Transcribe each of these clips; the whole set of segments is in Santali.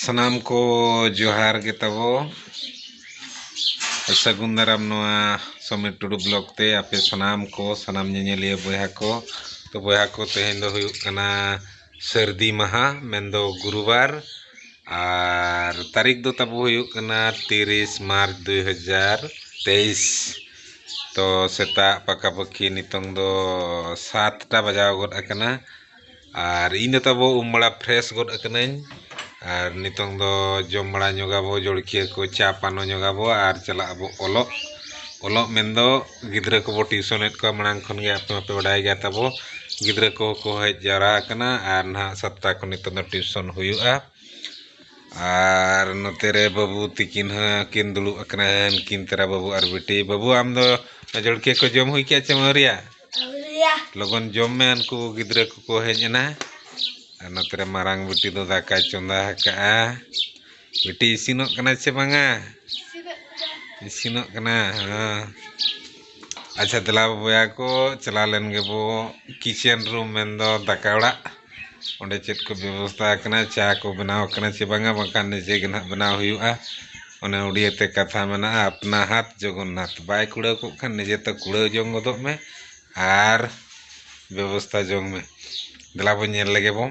ᱥᱟᱱᱟᱢ ᱠᱚ ᱡᱚᱦᱟᱨ ᱜᱮ ᱛᱟᱵᱚ ᱥᱟᱹᱜᱩᱱ ᱫᱟᱨᱟᱢ ᱱᱚᱣᱟ ᱥᱚᱢᱤᱨ ᱴᱩᱰᱩ ᱵᱞᱚᱜ ᱛᱮ ᱟᱯᱮ ᱥᱟᱱᱟᱢ ᱠᱚ ᱥᱟᱱᱟᱢ ᱧᱮᱧᱮᱞᱤᱭᱟᱹ ᱵᱚᱭᱦᱟ ᱠᱚ ᱛᱚ ᱵᱚᱭᱦᱟ ᱠᱚ ᱛᱮᱦᱮᱧ ᱫᱚ ᱦᱩᱭᱩᱜ ᱠᱟᱱᱟ ᱥᱟᱹᱨᱫᱤ ᱢᱟᱦᱟ ᱢᱮᱱᱫᱚ ᱜᱩᱨᱩ ᱵᱟᱨ ᱟᱨ ᱛᱟᱹᱨᱤᱠᱷ ᱫᱚ ᱛᱟᱵᱚ ᱦᱩᱭᱩᱜ ᱠᱟᱱᱟ ᱛᱤᱨᱤᱥ ᱢᱟᱨᱪ ᱫᱩᱭ ᱦᱟᱡᱟᱨ ᱛᱮᱭᱤᱥ ᱛᱚ ᱥᱮᱛᱟᱜ ᱯᱟᱠᱟ ᱯᱟᱹᱠᱤ ᱱᱤᱛᱚᱝ ᱫᱚ ᱥᱟᱛᱴᱟ ᱵᱟᱡᱟᱣ ᱜᱚᱫ ᱟᱠᱟᱱᱟ ᱟᱨ ᱤᱧ ᱫᱚ ᱛᱟᱵᱚ ᱩᱢ ᱵᱟᱲᱟ ᱯᱷᱨᱮᱥ ᱜᱚᱫ ᱟᱠᱟᱱᱟᱹᱧ ᱟᱨ ᱱᱤᱛᱚᱝ ᱫᱚ ᱡᱚᱢ ᱵᱟᱲᱟ ᱧᱚᱜᱟᱵᱚ ᱡᱚᱞᱠᱷᱤᱭᱟᱹ ᱠᱚ ᱪᱟ ᱯᱟᱱᱚ ᱧᱚᱜᱟᱵᱚ ᱟᱨ ᱪᱟᱞᱟᱜ ᱟᱵᱚ ᱚᱞᱚᱜ ᱚᱞᱚᱜ ᱢᱮᱱᱫᱚ ᱜᱤᱫᱽᱨᱟᱹ ᱠᱚᱵᱚ ᱴᱤᱭᱩᱥᱚᱱᱮᱫ ᱠᱚᱣᱟ ᱢᱟᱲᱟᱝ ᱠᱷᱚᱱ ᱜᱮ ᱟᱯᱮ ᱢᱟᱯᱮ ᱵᱟᱰᱟᱭ ᱜᱮᱭᱟ ᱛᱟᱵᱚ ᱜᱤᱫᱽᱨᱟᱹ ᱠᱚᱦᱚᱸ ᱠᱚ ᱦᱮᱡ ᱡᱟᱣᱨᱟ ᱟᱠᱟᱱᱟ ᱟᱨ ᱱᱟᱜ ᱥᱟᱛᱴᱟ ᱠᱷᱚᱱ ᱱᱤᱛᱚᱜ ᱫᱚ ᱴᱤᱭᱩᱥᱚᱱ ᱦᱩᱭᱩᱜᱼᱟ ᱟᱨ ᱱᱚᱛᱮ ᱨᱮ ᱵᱟᱹᱵᱩ ᱛᱤᱠᱤᱱ ᱦᱚᱸᱠᱤᱱ ᱫᱩᱲᱩᱵ ᱟᱠᱟᱱᱟ ᱩᱱᱠᱤᱱ ᱛᱟᱨᱟ ᱵᱟᱹᱵᱩ ᱟᱨ ᱵᱤᱴᱤ ᱵᱟᱹᱵᱩ ᱟᱢ ᱫᱚ ᱡᱚᱞᱠᱷᱤᱭᱟᱹ ᱠᱚ ᱡᱚᱢ ᱦᱩᱭ ᱠᱮᱫᱼᱟ ᱪᱮᱢ ᱟᱹᱣᱨᱤᱭᱟ ᱞᱚᱜᱚᱱ ᱡᱚᱢ ᱢᱮ ᱩᱱᱠᱩ ᱜᱤᱫᱽᱨᱟᱹ ᱠᱚᱠᱚ ᱦᱮᱡ ᱮᱱᱟ ᱟᱨ ᱱᱚᱛᱮ ᱨᱮ ᱢᱟᱨᱟᱝ ᱵᱤᱴᱤ ᱫᱚ ᱫᱟᱠᱟᱭ ᱪᱚᱸᱫᱟ ᱟᱠᱟᱫᱼᱟ ᱵᱤᱴᱤ ᱤᱥᱤᱱᱚᱜ ᱠᱟᱱᱟ ᱥᱮ ᱵᱟᱝᱟ ᱤᱥᱤᱱᱚᱜ ᱠᱟᱱᱟ ᱟᱪᱪᱷᱟ ᱫᱮᱞᱟ ᱵᱚᱭᱦᱟ ᱠᱚ ᱪᱟᱞᱟᱣ ᱞᱮᱱ ᱜᱮᱵᱚ ᱠᱤᱪᱮᱱ ᱨᱩᱢ ᱢᱮᱱ ᱫᱚ ᱫᱟᱠᱟ ᱚᱲᱟᱜ ᱚᱸᱰᱮ ᱪᱮᱫ ᱠᱚ ᱵᱮᱵᱚᱥᱛᱷᱟ ᱟᱠᱟᱱᱟ ᱪᱟ ᱠᱚ ᱵᱮᱱᱟᱣ ᱠᱟᱱᱟ ᱥᱮ ᱵᱟᱝᱟ ᱵᱟᱝᱠᱷᱟᱱ ᱱᱤᱡᱮ ᱜᱮ ᱦᱟᱸᱜ ᱵᱮᱱᱟᱣ ᱦᱩᱭᱩᱜᱼᱟ ᱚᱱᱮ ᱩᱰᱤᱭᱟᱹ ᱛᱮ ᱠᱟᱛᱷᱟ ᱢᱮᱱᱟᱜᱼᱟ ᱟᱯᱱᱟ ᱦᱟᱛ ᱡᱚᱜᱚᱱᱱᱟᱛᱷ ᱵᱟᱭ ᱠᱩᱲᱟᱹᱣ ᱠᱚᱜ ᱠᱷᱟᱱ ᱱᱤᱡᱮ ᱛᱮ ᱠᱩᱲᱟᱹᱣ ᱡᱚᱝ ᱜᱚᱫᱚᱜ ᱢᱮ ᱟᱨ ᱵᱮᱵᱚᱥᱛᱷᱟ ᱡᱚᱝ ᱢᱮ ᱫᱮᱞᱟ ᱵᱚᱱ ᱧᱮᱞ ᱞᱮᱜᱮ ᱵᱚᱱ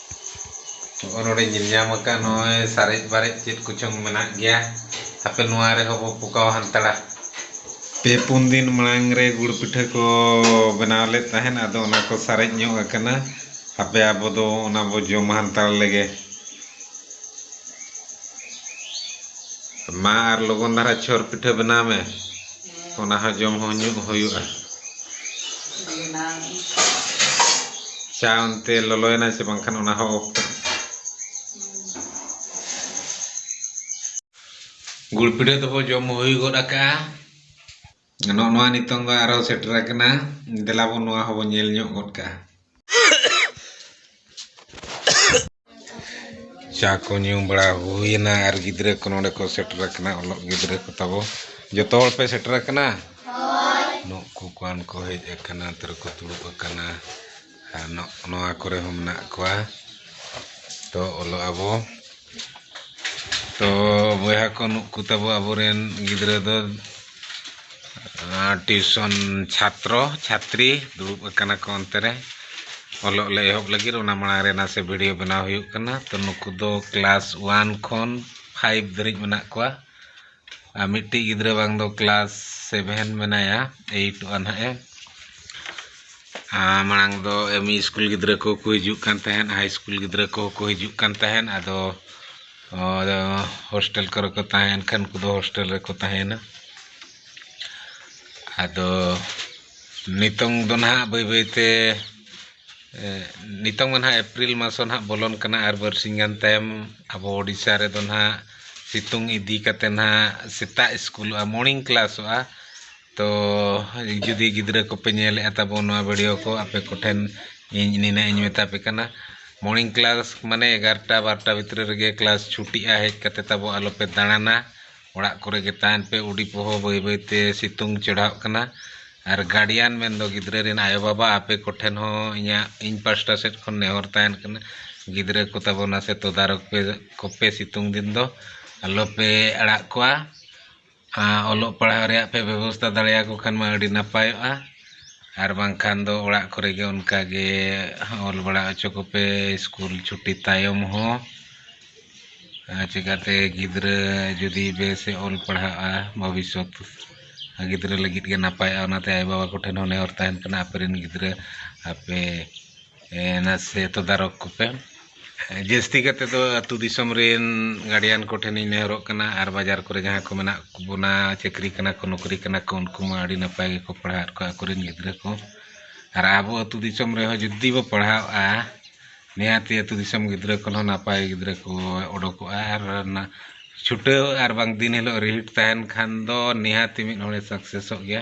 ᱱᱚᱜᱼᱚᱭ ᱱᱚᱰᱮ ᱧᱮᱞ ᱧᱟᱢ ᱟᱠᱟᱫ ᱱᱚᱜᱼᱚᱭ ᱥᱟᱨᱮᱡ ᱵᱟᱨᱮᱡ ᱪᱮᱫ ᱠᱚᱪᱚᱝ ᱢᱮᱱᱟᱜ ᱜᱮᱭᱟ ᱦᱟᱯᱮ ᱱᱚᱣᱟ ᱨᱮᱦᱚᱸ ᱵᱚ ᱯᱚᱠᱟᱣ ᱦᱟᱱᱛᱟᱲᱟ ᱯᱮ ᱯᱩᱱ ᱫᱤᱱ ᱢᱟᱲᱟᱝ ᱨᱮ ᱜᱩᱲ ᱯᱤᱴᱷᱟᱹ ᱠᱚ ᱵᱮᱱᱟᱣ ᱞᱮᱫ ᱛᱟᱦᱮᱸᱫ ᱟᱫᱚ ᱚᱱᱟ ᱠᱚ ᱥᱟᱨᱮᱡ ᱧᱚᱜ ᱟᱠᱟᱱᱟ ᱦᱟᱯᱮ ᱟᱵᱚ ᱫᱚ ᱚᱱᱟ ᱵᱚ ᱡᱚᱢ ᱦᱟᱱᱛᱟᱲ ᱞᱮᱜᱮ ᱢᱟ ᱟᱨ ᱞᱚᱜᱚᱱ ᱫᱷᱟᱨᱟ ᱪᱷᱚᱨ ᱯᱤᱴᱷᱟᱹ ᱵᱮᱱᱟᱣ ᱢᱮ ᱚᱱᱟ ᱦᱚᱸ ᱡᱚᱢ ᱦᱚᱸ ᱧᱩ ᱦᱩᱭᱩᱜᱼᱟ ᱪᱟ ᱚᱱᱛᱮ ᱞᱚᱞᱚᱭᱮᱱᱟ ᱥᱮ ᱵᱟᱝᱠᱷᱟᱱ ᱚᱱᱟ ᱦᱚᱸ ᱚᱯᱷ ᱜᱩᱲ ᱯᱤᱴᱷᱟᱹ ᱫᱚᱵᱚ ᱡᱚᱢ ᱦᱩᱭ ᱜᱚᱫ ᱟᱠᱟᱜᱼᱟ ᱱᱚᱜᱼᱚ ᱱᱚᱣᱟ ᱱᱤᱛᱚᱝ ᱫᱚ ᱟᱨᱚ ᱥᱮᱴᱮᱨ ᱟᱠᱟᱱᱟ ᱫᱮᱞᱟ ᱵᱚᱱ ᱱᱚᱣᱟ ᱦᱚᱸᱵᱚᱱ ᱧᱮᱞ ᱧᱚᱜ ᱜᱚᱫ ᱠᱟᱜᱼᱟ ᱪᱟ ᱠᱚ ᱧᱩ ᱵᱟᱲᱟ ᱦᱩᱭᱮᱱᱟ ᱟᱨ ᱜᱤᱫᱽᱨᱟᱹ ᱠᱚ ᱱᱚᱰᱮ ᱠᱚ ᱥᱮᱴᱮᱨ ᱟᱠᱟᱱᱟ ᱚᱞᱚᱜ ᱜᱤᱫᱽᱨᱟᱹ ᱠᱚ ᱛᱟᱵᱚ ᱡᱚᱛᱚ ᱦᱚᱲ ᱯᱮ ᱥᱮᱴᱮᱨ ᱟᱠᱟᱱᱟ ᱱᱩᱠᱩ ᱠᱚᱣᱟᱱ ᱠᱚ ᱦᱮᱡ ᱟᱠᱟᱱᱟ ᱱᱚᱛᱮ ᱨᱮᱠᱚ ᱫᱩᱲᱩᱵ ᱟᱠᱟᱱᱟ ᱟᱨ ᱱᱚᱣᱟ ᱠᱚᱨᱮ ᱦᱚᱸ ᱢᱮᱱᱟᱜ ᱠᱚᱣᱟ ᱛᱚ ᱚᱞᱚᱜ ᱟᱵᱚ ᱛᱚ ᱵᱚᱭᱦᱟ ᱠᱚ ᱱᱩᱠᱩ ᱛᱟᱵᱚ ᱟᱵᱚᱨᱮᱱ ᱜᱤᱫᱽᱨᱟᱹ ᱫᱚ ᱴᱤᱭᱩᱥᱚᱱ ᱪᱷᱟᱛᱨᱚ ᱪᱷᱟᱛᱨᱤ ᱫᱩᱲᱩᱵ ᱟᱠᱟᱱᱟ ᱠᱚ ᱚᱱᱛᱮ ᱨᱮ ᱚᱞᱚᱜ ᱞᱮ ᱮᱦᱚᱵ ᱞᱟᱹᱜᱤᱫ ᱚᱱᱟ ᱢᱟᱲᱟᱝ ᱨᱮ ᱱᱟᱥᱮ ᱵᱷᱤᱰᱤᱭᱳ ᱵᱮᱱᱟᱣ ᱦᱩᱭᱩᱜ ᱠᱟᱱᱟ ᱛᱚ ᱱᱩᱠᱩ ᱫᱚ ᱠᱞᱟᱥ ᱚᱣᱟᱱ ᱠᱷᱚᱱ ᱯᱷᱟᱭᱤᱵᱷ ᱫᱷᱟᱹᱨᱤᱡ ᱢᱮᱱᱟᱜ ᱠᱚᱣᱟ ᱟᱨ ᱢᱤᱫᱴᱤᱡ ᱜᱤᱫᱽᱨᱟᱹ ᱵᱟᱝ ᱫᱚ ᱠᱞᱟᱥ ᱥᱮᱵᱷᱮᱱ ᱢᱮᱱᱟᱭᱟ ᱮᱭᱤᱴ ᱚᱣᱟᱱ ᱦᱟᱸᱜ ᱮ ᱢᱟᱲᱟᱝ ᱫᱚ ᱮᱢ ᱤ ᱥᱠᱩᱞ ᱜᱤᱫᱽᱨᱟᱹ ᱠᱚᱠᱚ ᱦᱤᱡᱩᱜ ᱠᱟᱱ ᱛᱟᱦᱮᱸᱫ ᱦᱟᱭ ᱥᱠᱩᱞ ᱜᱤᱫᱽᱨᱟᱹ ᱠᱚᱦᱚᱸ ᱠᱚ ᱦᱤᱡᱩᱜ ᱠᱟᱱ ᱛᱟᱦᱮᱸᱫ ᱟᱫᱚ ᱟᱫᱚ ᱦᱳᱥᱴᱮᱞ ᱠᱚᱨᱮ ᱠᱚ ᱛᱟᱦᱮᱸᱭᱮᱱ ᱠᱷᱟᱱ ᱩᱱᱠᱩ ᱫᱚ ᱦᱳᱥᱴᱮᱞ ᱨᱮᱠᱚ ᱛᱟᱦᱮᱸᱭᱮᱱᱟ ᱟᱫᱚ ᱱᱤᱛᱚᱝ ᱫᱚ ᱱᱟᱦᱟᱜ ᱵᱟᱹᱭ ᱵᱟᱹᱭ ᱛᱮ ᱱᱤᱛᱚᱝ ᱢᱟ ᱱᱟᱦᱟᱜ ᱮᱯᱨᱤᱞ ᱢᱟᱥ ᱦᱚᱸ ᱱᱟᱦᱟᱜ ᱵᱚᱞᱚᱱ ᱠᱟᱱᱟ ᱟᱨ ᱵᱟᱨᱥᱤᱧ ᱜᱟᱱ ᱛᱟᱭᱚᱢ ᱟᱵᱚ ᱳᱰᱤᱥᱟ ᱨᱮᱫᱚ ᱱᱟᱦᱟᱜ ᱥᱤᱛᱩᱝ ᱤᱫᱤ ᱠᱟᱛᱮᱫ ᱱᱟᱦᱟᱜ ᱥᱮᱛᱟᱜ ᱥᱠᱩᱞᱚᱜᱼᱟ ᱢᱚᱨᱱᱤᱝ ᱠᱞᱟᱥᱚᱜᱼᱟ ᱛᱚ ᱡᱩᱫᱤ ᱜᱤᱫᱽᱨᱟᱹ ᱠᱚᱯᱮ ᱧᱮᱞᱮᱫᱼᱟ ᱛᱟᱵᱚᱱ ᱱᱚᱣᱟ ᱵᱷᱤᱰᱤᱭᱳ ᱠᱚ ᱟᱯᱮ ᱠᱚᱴᱷᱮᱱ ᱤᱧ ᱱᱤᱱᱟᱹᱜ ᱤᱧ ᱢᱮᱛᱟ ᱯᱮ ᱠᱟᱱᱟ ᱢᱚᱨᱱᱤᱝ ᱠᱞᱟᱥ ᱢᱟᱱᱮ ᱮᱜᱟᱨᱚᱴᱟ ᱵᱟᱨᱚᱴᱟ ᱵᱷᱤᱛᱨᱤ ᱨᱮᱜᱮ ᱠᱞᱟᱥ ᱪᱷᱩᱴᱤᱜᱼᱟ ᱦᱮᱡ ᱠᱟᱛᱮ ᱛᱟᱵᱚ ᱟᱞᱚᱯᱮ ᱫᱟᱬᱟᱱᱟ ᱚᱲᱟᱜ ᱠᱚᱨᱮ ᱜᱮ ᱛᱟᱦᱮᱱ ᱯᱮ ᱩᱰᱤ ᱯᱚᱦᱚ ᱵᱟᱹᱭ ᱵᱟᱹᱭ ᱛᱮ ᱥᱤᱛᱩᱝ ᱪᱮᱲᱦᱟᱜ ᱠᱟᱱᱟ ᱟᱨ ᱜᱟᱨᱰᱤᱭᱟᱱ ᱢᱮᱱ ᱫᱚ ᱜᱤᱫᱽᱨᱟᱹ ᱨᱮᱱ ᱟᱭᱳ ᱵᱟᱵᱟ ᱟᱯᱮ ᱠᱚᱴᱷᱮᱱ ᱦᱚᱸ ᱤᱧᱟᱹᱜ ᱤᱧ ᱯᱟᱥᱴᱟ ᱥᱮᱫ ᱠᱷᱚᱱ ᱱᱮᱦᱚᱨ ᱛᱟᱦᱮᱱ ᱠᱟᱱᱟ ᱜᱤᱫᱽᱨᱟᱹ ᱠᱚ ᱛᱟᱵᱚ ᱱᱟᱥᱮ ᱛᱚᱫᱟᱨᱚᱠ ᱯᱮ ᱠᱚᱯᱮ ᱥᱤᱛᱩᱝ ᱫᱤᱱ ᱫᱚ ᱟᱞᱚᱯᱮ ᱟᱲᱟᱜ ᱠᱚᱣᱟ ᱚᱞᱚᱜ ᱯᱟᱲᱦᱟᱣ ᱨᱮᱭᱟᱜ ᱯᱮ ᱵᱮᱵᱚᱥᱛᱷᱟ ᱫᱟᱲᱮᱭᱟᱠᱚ ᱠᱷᱟᱱ ᱢᱟ ᱟᱹᱰᱤ ᱱᱟᱯᱟᱭᱚᱜᱼᱟ ᱟᱨ ᱵᱟᱝᱠᱷᱟᱱ ᱫᱚ ᱚᱲᱟᱜ ᱠᱚᱨᱮ ᱜᱮ ᱚᱱᱠᱟ ᱜᱮ ᱚᱞ ᱵᱟᱲᱟ ᱦᱚᱪᱚ ᱠᱚᱯᱮ ᱥᱠᱩᱞ ᱪᱷᱩᱴᱤ ᱛᱟᱭᱚᱢ ᱦᱚᱸ ᱟᱨ ᱪᱤᱠᱟᱹᱛᱮ ᱜᱤᱫᱽᱨᱟᱹ ᱡᱩᱫᱤ ᱵᱮᱥ ᱮ ᱚᱞ ᱯᱟᱲᱦᱟᱜᱼᱟ ᱵᱷᱚᱵᱤᱥᱥᱚᱛ ᱜᱤᱫᱽᱨᱟᱹ ᱞᱟᱹᱜᱤᱫ ᱜᱮ ᱱᱟᱯᱟᱭᱚᱜᱼᱟ ᱚᱱᱟᱛᱮ ᱟᱭᱳᱼᱵᱟᱵᱟ ᱠᱚᱴᱷᱮᱱ ᱦᱚᱸ ᱱᱮᱦᱚᱨ ᱛᱟᱦᱮᱱ ᱠᱟᱱᱟ ᱟᱯᱮ ᱨᱮᱱ ᱜᱤᱫᱽᱨᱟᱹ ᱟᱯᱮ ᱱᱟᱥᱮ ᱛᱚᱫᱟᱨᱚᱠ ᱠᱚᱯᱮ ᱡᱟᱹᱥᱛᱤ ᱠᱟᱛᱮ ᱫᱚ ᱟᱛᱳ ᱫᱤᱥᱚᱢ ᱨᱮᱱ ᱜᱟᱨᱰᱤᱭᱟᱱ ᱠᱚᱴᱷᱮᱱᱤᱧ ᱱᱮᱦᱚᱨᱚᱜ ᱠᱟᱱᱟ ᱟᱨ ᱵᱟᱡᱟᱨ ᱠᱚᱨᱮ ᱡᱟᱦᱟᱸᱭ ᱠᱚ ᱢᱮᱱᱟᱜ ᱵᱚᱱᱟ ᱪᱟᱹᱠᱨᱤ ᱠᱟᱱᱟ ᱠᱚ ᱱᱚᱠᱨᱤ ᱠᱟᱱᱟ ᱠᱚ ᱩᱱᱠᱩ ᱢᱟ ᱟᱹᱰᱤ ᱱᱟᱯᱟᱭ ᱜᱮᱠᱚ ᱯᱟᱲᱦᱟᱣᱮᱫ ᱠᱚᱣᱟ ᱟᱠᱚᱨᱮᱱ ᱜᱤᱫᱽᱨᱟᱹ ᱠᱚ ᱟᱨ ᱟᱵᱚ ᱟᱛᱳ ᱫᱤᱥᱚᱢ ᱨᱮᱦᱚᱸ ᱡᱩᱫᱤ ᱵᱚ ᱯᱟᱲᱦᱟᱣᱚᱜᱼᱟ ᱱᱤᱦᱟᱹᱛᱤ ᱟᱛᱳ ᱫᱤᱥᱚᱢ ᱜᱤᱫᱽᱨᱟᱹ ᱠᱷᱚᱱ ᱦᱚᱸ ᱱᱟᱯᱟᱭ ᱜᱤᱫᱽᱨᱟᱹ ᱠᱚ ᱚᱰᱚᱠᱚᱜᱼᱟ ᱟᱨ ᱚᱱᱟ ᱪᱷᱩᱴᱟᱹᱣ ᱟᱨ ᱵᱟᱝ ᱫᱤᱱ ᱦᱤᱞᱳᱜ ᱨᱤᱦᱤᱴ ᱛᱟᱦᱮᱱ ᱠᱷᱟᱱ ᱫᱚ ᱱᱤᱦᱟᱹᱛᱤ ᱢᱤᱫ ᱦᱚᱲᱮ ᱥᱟᱠᱥᱮᱥᱚᱜ ᱜᱮᱭᱟ